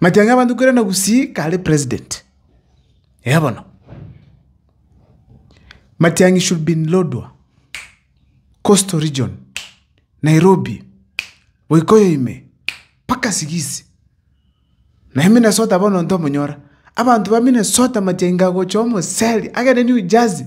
Matiang'i abanto korende gusii kare president, eeh bono. Matiang'i should be in Lodwar, coastal region, Nairobi, Boikoyo ime, mpaka Sigisi. Naye Minnesota bono ntomonyora, abanto ba Minnesota Matiang'i kagocha omoseri agende New Jersey.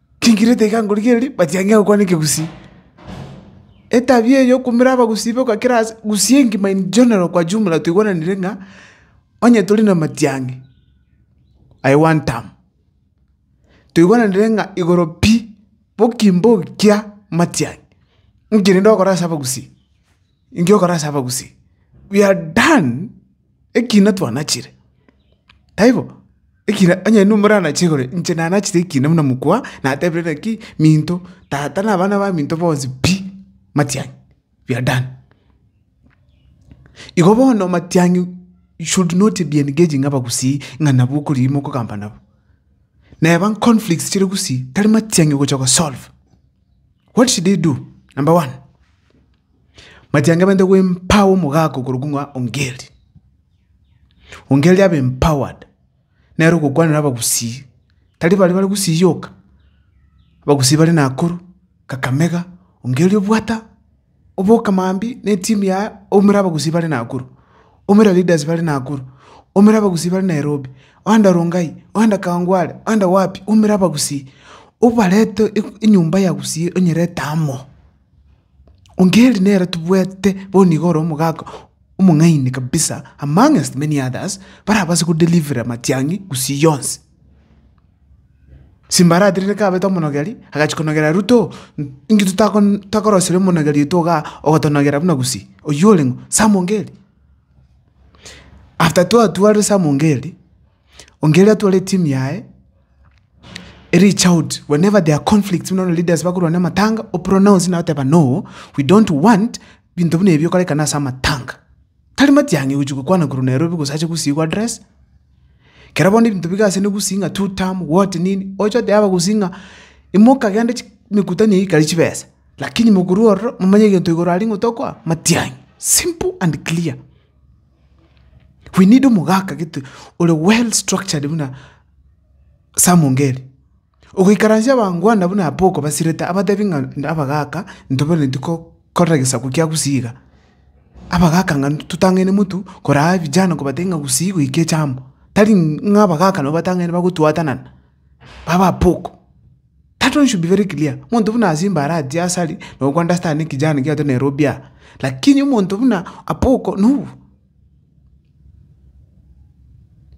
Tingirete iga ngorigereria, but yang'ea gokwana ekegusii. Etabia eye yokoumera abagusii boka kera ase, gusii engima in general kwa jumla toigwananire ng'a, onye tori na matiang'i, I want am. Toigwananire ng'a igoro pi, boki mbokia matiang'i, nki rende ogokora ase abagusii. Inki ogokora ase abagusii? We are done, ekina twanachire. Taibo? Ekina onye nintwe moranache igoro, inche nanachire ekina buna mokwa, natebire naki, minto, tata na abana ba minto bonsi pi, matiang'i, we are done. Igo bono matiang'i you should not be engaging abagusii ng'a nabo okorigia mokogamba nabo. Neba nconflicts chire gusii, tari matiang'i ogocha kosolve. What should I do? Number one. Matiangemeete gw'empower omogaaka okorokwa ng'a ongeri. Ongeri abe empowered, nere ogokwanera abagusii, tari baria bare gusii yoka, abagusii bare Nakuru, Kakamega, ongeri obwata oboke mambia na etimu yaye oumere abagusii bare Nakuru, oumere leaders bare Nakuru, oumere abagusii bare Nairobi, oende Rongai, oende Kawangware, oende wapi, oumere abagusii, obarete enyomba ya gusii onyerete amo. Ongeri nere tobwate bono iga ore omogaka omong'aini kabisa amongst many others barabase kodelivera amatiang'i gusii yonsi. Simbaraterire kabete omonogeri agachia konogera ruto inki totako tokorosiria omonogeri oito igaa ogotonogera buna gusii oywo oreng'o Sam Ongeri. After twatwarire Sam Ongeri. Onge eria atware etimu yaye ereach out whenever there are conflicts buna bono leaders bakorwa namatanga o pronounce naye oteba no we don't want binto buna ebi bikorekana ase amatanga. Tari matiang'i gochia gokwana korwa Nairobi gose ache gusii gwa address. Kero bono ebinto biga ase ne gusii ng'a two term what nini oche otebe abagusii ng'a imokagenda chi mekutano eyio ikare chibesa lakini mokorwa ororo momanye egento igoro aria ng'a tokoa matiang'i simple and clear. We need omogaka gete ore well structured buna Sam Ongeri. Ogoikaransia abangwana buna Apoko basirete abatebi ng'a na abagaka ntobanetie ko korora gesaku kia gusii iga. Abagaka ng'a totang'aine motwe koraa vijana kobatebia ng'a gusii goika echamba. Tari ng'a abagaka nabo batang'aine bagotwatanana, baba Apoko. That one should be very clear, omonto buna Asimba aratie asari no go understand ekijana ekiato Nairobi aa, lakini omonto buna Apoko no,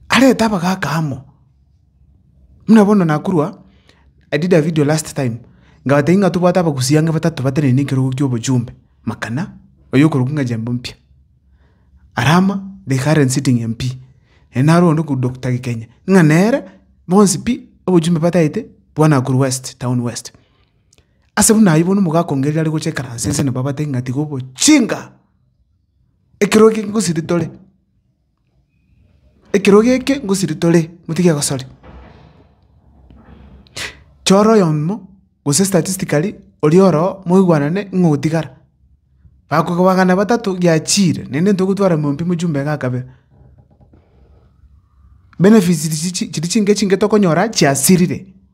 arete abagaka amo, buna bono nakorwa, I did a video last time ngabatebi ng'a tobwate abagusii ang'e batato batenene ekerogo kia obochumbe, makana, oyo okorokwa ng'a Jembe Mpya. Arama the current sitting MP ere naro onde korwa Doctor Gikenya, ng'a nere bonsi pi obochumbe bataete bwa Nakuru West, Town West. Ase buna ayio bono omogaaka o Ngeria are gocha ekaranse ense nabo abatebie ng'a tiga obochinga, ekero eke ngosiri tore. Ekerogo eke ngosiria tore, motige gosori. Chora oyomo gose statistically oria oroo moigwanane ng'o ogotigara. Bakoba magana batato giachiire, naende ntogotwara monto ime chumba iga kabere. Benefits chiria chinke chinke tokonyora chiasirire.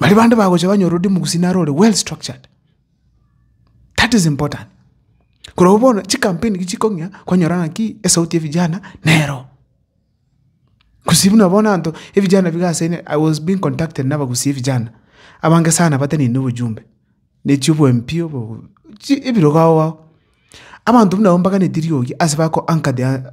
Baria bande bagocha banyore ore omogusii naro ore well structured, that is important. Korwa bono chikampeni eki chikong'ea kwanyora ng'aki esauti ya vijana nero. Gose buna bono abanto evijana biga ase ene I was being contacted nabagusii vijana, abange sana bateneine obojumbe, na echio bo MP obo chi ebirogo ao ao. Abanto buna abwo mbaganetie rirogi ase bako anchored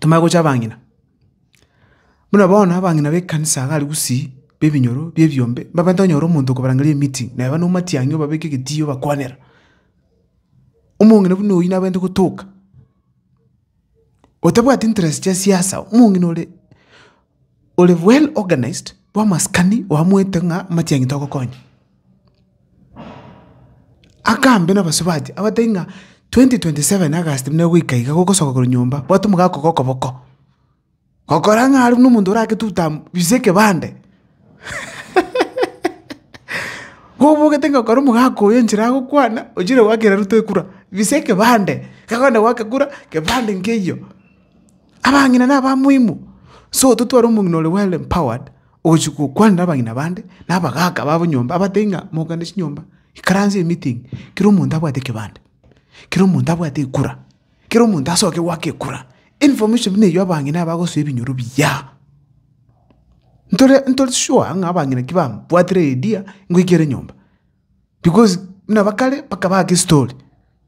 tomanye gocha abang'ina. Buna bono abang'ina b'ekanisa iga aria gusii, ba ebinyoro, ba ebiombe, mbabato onyore omonto okobarangeria emeeting, naye bane omatiang'i obabeke egetiyo obakwanera. Omong'ina buna oyio nabwenerete gotoka, otabwati interest chia siasa, omong'ina ore. Ore well organized bw'amasikani oamoete ng'a amachiangi togokonya. Akaambe n'abasio baye abatebia ng'a 2027 August buna egoika iga gogosoka korwa nyomba bwate omogaka okoba okoboko. Gokora ng'a aria buna omonto orake two term bise ekebande. Kobogete ng'a ekero omogaka oyo enchera agokwana ochire goakera Ruto ekura bise ekebande. Kegokenda goaka ekura kebande nkeiyo. Abang'ina naba moimu, so totware omong'ina ore well empowered ogochi gokwanera abang'ina bande, na abagaka babo nyomba abatebie ng'a mogende chinyomba, ikaranse emeeting, kera omonto abwate ekebande, kera omonto abwate ekura, kera omonto asoke goaka ekura. Information buna eyio abang'ina bagosoa ebinyoro biya. Ntore ntori sure ng'a abang'ina ki babwatire idea ngoika ere nyomba, because buna ba kare mpaka baake estori.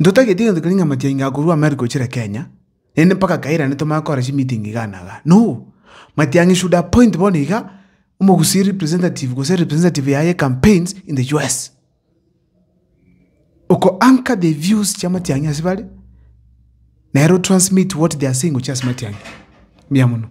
Ntotageti egento keria ng'a matiangi akorwa amo are gochira Kenya, naende mpaka kairane tomanye kora chimeeting iga na iga. No! Matiangi should appoint bono iga, omogusii representative gose representative yaye campaigns in the US. Oko anchor the views chia matiangi ase bare, nere o transmit what they are saying gochia ase matiangi. Mbuya mono.